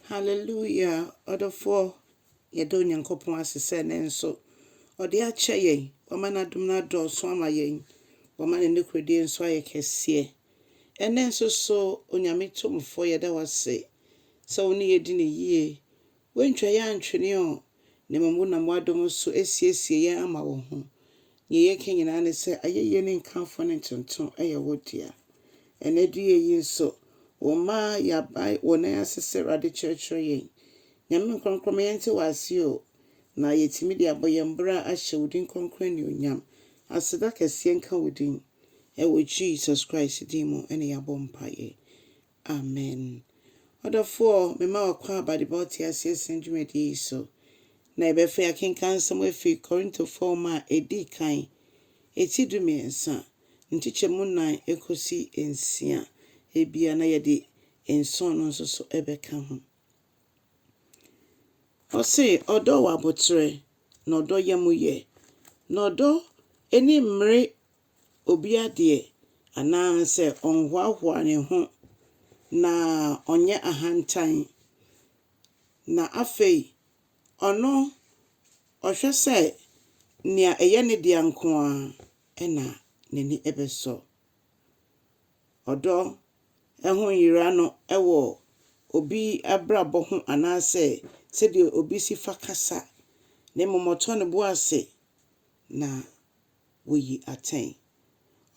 Hallelujah! Ɔdɔfoɔ, yɛda Onyankopɔn ase sɛ ɛnnɛ nso Ɔde akyɛ yɛn. Wama N'adom no adɔɔso ama yɛn. Wama Ne nokorɛdie nso ayɛ kɛseɛ. Ɛnnɛ nso so, Onyame Tumfoɔ, yɛda Wo ase sɛ Wo ne yɛn di no yie. Woantwa yɛn antwene o, na mmom wonam w'adom so asiesie yɛn ama wo ho. Nea yɛka nyinaa ne sɛ, ayɛyie ne nkamfo ne ntonto yɛ wo dea. Ɛnnɛ aduyɛ yi nso, wo mma a yɛabae wo nan ase sɛ Awurade kyerɛkyerɛ yɛn. Nyame Nkorɔkorɔ ma yɛnte wo ase o, na yɛtumi de abɔ yɛn bra ahyɛ wo din kronkron anuonyam. Aseda kɛseɛ nka wo din. Ɛwɔ Jesus Christ din mu na yɛabɔ mpaeɛ. Amen. Ɔdɔfoɔ, mema wo akwaaba de ba wo teaseɛ sɛm dwumadie yi so. Na yɛbɛfa yɛn akenkan nsɛm afiri Korintofoɔ nwoma a ɛdi kan, eti du mmiɛnsa, nkyekyɛmu nnan kɔsi nsia, ebia na yɛde nson no nso so bɛka ho. Ɔse, Ɔdɔ wɔ aboterɛ, na ɔdɔ yam yɛ, na ɔdɔ ani mmere obi adeɛ anaa sɛ ɔnhoahoa ne ho na ɔnyɛ ahantan, na afei ɔno ɔhwɛ sɛ nea ɛyɛ ne dea nko ara na n'ani bɛsɔ. Ɔdɔ ho nyera no wɔ obi abrabɔ ho anaasɛ sɛdeɛ obi si fa kasa, na mmom ɔtɔ ne bo ase na. woyi atɛn.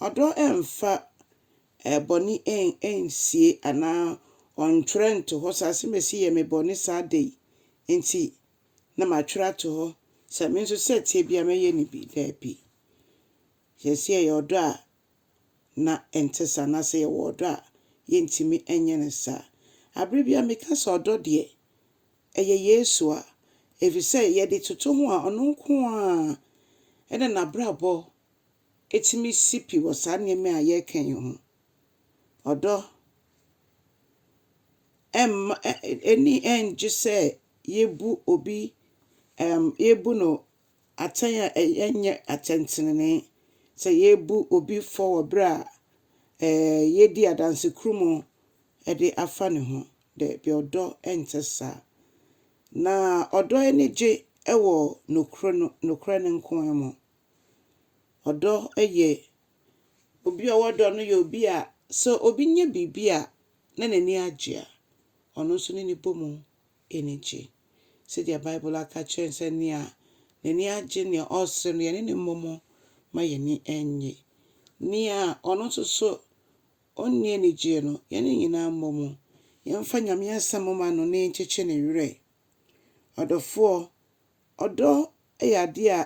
Ɔdɔ mfa bɔne nsie anaa ɔntwerɛ nto hɔ sɛ asɛm a ɛsi yɛ me bɔne saa da yi nti na matwerɛ ato hɔ sɛ me nso sɛ ɛteɛ biara mɛyɛ no bi. Daabi. Sɛ sɛ yɛyɛ ɔdɔ a na ɛnte saa anaa sɛ yɛwɔ ɔdɔ a yɛntumi nyɛ no saa. Aberɛ biara meka sɛ ɔdɔ deɛ ɛyɛ Yesu a, efisɛ yɛde toto ho a, ɔno nko ara na n'abrabɔ tumi si pi wɔ saa nneɛma a yɛreka yi ho. Ɔdɔ mma ani ngye sɛ yebu obi, ɛm, yebu no atɛn a ɛnyɛ atɛntenenee, sɛ yebu obi fɔ wɔ bere a ɛɛ yedi adansekurumu de afa ne ho. Dabi, ɔdɔ nte saa. Na ɔdɔ ani gye wɔ nokore no, nokorɛ no nko ara mu. Ɔdɔ yɛ, obi a ɔwɔ dɔ no yɛ obi a sɛ obi nya biribi a na n'ani agye a, ɔno nso ne no bɔ mu ani gye. Sɛdeɛ Bible aka akyerɛ yɛn sɛ, Nea n'ani agye, nea ɔresere no, yɛne no mmɔ mu ma yɛn ani nnye. Nea ɔno nso so Ɔnni anigyeɛ no, yɛne no nyinaa mmɔ mu, yɛmfa Nyame asɛm mma no na yɛnkyekye ne werɛ. Ɔdɔfoɔ, ɔdɔ yɛ adeɛ a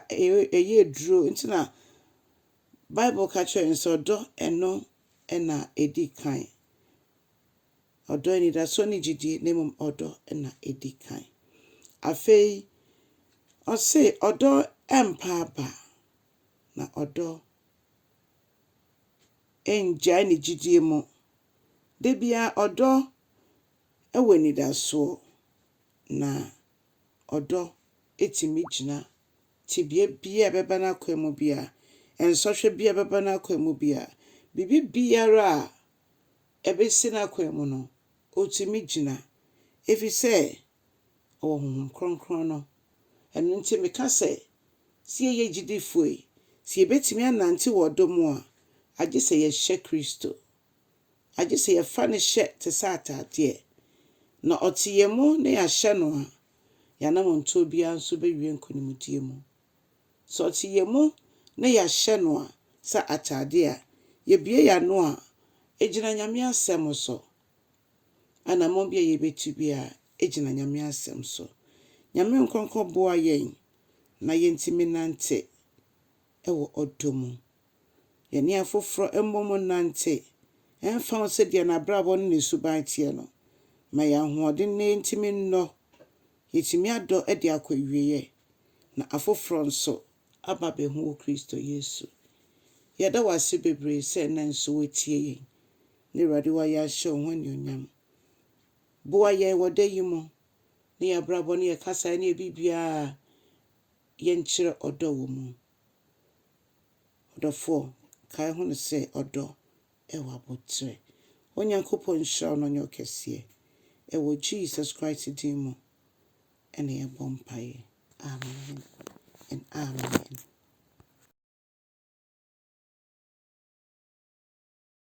ɛyɛ aduro nti na Bible ka kyerɛ yɛn sɛ ɔdɔ ɛno na ɛdi kan. Ɔdɔ anidasoɔ ne gyidie na mmom ɔdɔ na ɛdi kan. Afei ɔse ɔdɔ mpa aba na ɔdɔ. ɛngyae ne gyidie mu. Da biara ɔdɔ wɔ anidasoɔ, na ɔdɔ tumi gyina tebea biara a ɛbɛba n'akwan mu biara, nsɔhwɛ biara a ɛbɛba n'akwan mu biara, biribi biara a ɛbɛsi n'akwan mu no, ɔtumi gyina, ɛfiri sɛ wɔ Honhom Kronkron no. Ɛno nti meka sɛ, sɛ yɛyɛ gyidifo yi, sɛ yɛbɛtumi anante wɔ ɔdɔ mu a, agye sɛ yɛhyɛ Kristo. Agye sɛ yɛfa no hyɛ te sɛ ataadeɛ, na ɔte yɛn mu na yɛahyɛ no a, yɛn anammɔntuo biara nso bɛwie nkonimdie mu. Sɛ ɔte yɛn mu na yɛahyɛ no a sɛ ataadeɛ a, yɛbue yɛn ano a, ɛgyina Nyame Asɛm so. Anamɔn bi a yɛbɛtu biara gyina Nyame asɛm so. Nyame nkrɔnkɔ boa yɛn na yɛntumi nante wɔ ɔdɔ mu. Yɛne afoforɔ mmɔ mu nnante, ɛmfa ho sɛ deɛ n'abrabɔ ne ne suban teɛ no, ma yɛn ahoɔden na yɛntumi nnɔ. Yɛtumi adɔ de akɔ awieɛ na afoforɔ nso aba abɛhu wɔ Kristo Yesu. Yɛda wo ase bebree sɛ nnɛ nso wotie yɛn. Na Awurade w'ayɛ ahyɛ wo ho anuonyam. Boa yɛn wɔ da yi mu ne yɛn abrabɔ ne yɛn kasaeɛ ne yɛn biribiara a yɛnkyerɛ ɔdɔ wɔ mu. Ɔdɔfoɔ, kae ho no sɛ ɔdɔ ɛwɔ aboterɛ. Onyankopɔn nhyira wo na ɔnyɛ wo kɛseɛ. Ɛwɔ Jesus Christ din mu ɛna yɛbɔ mpaeɛ. Amen and amen.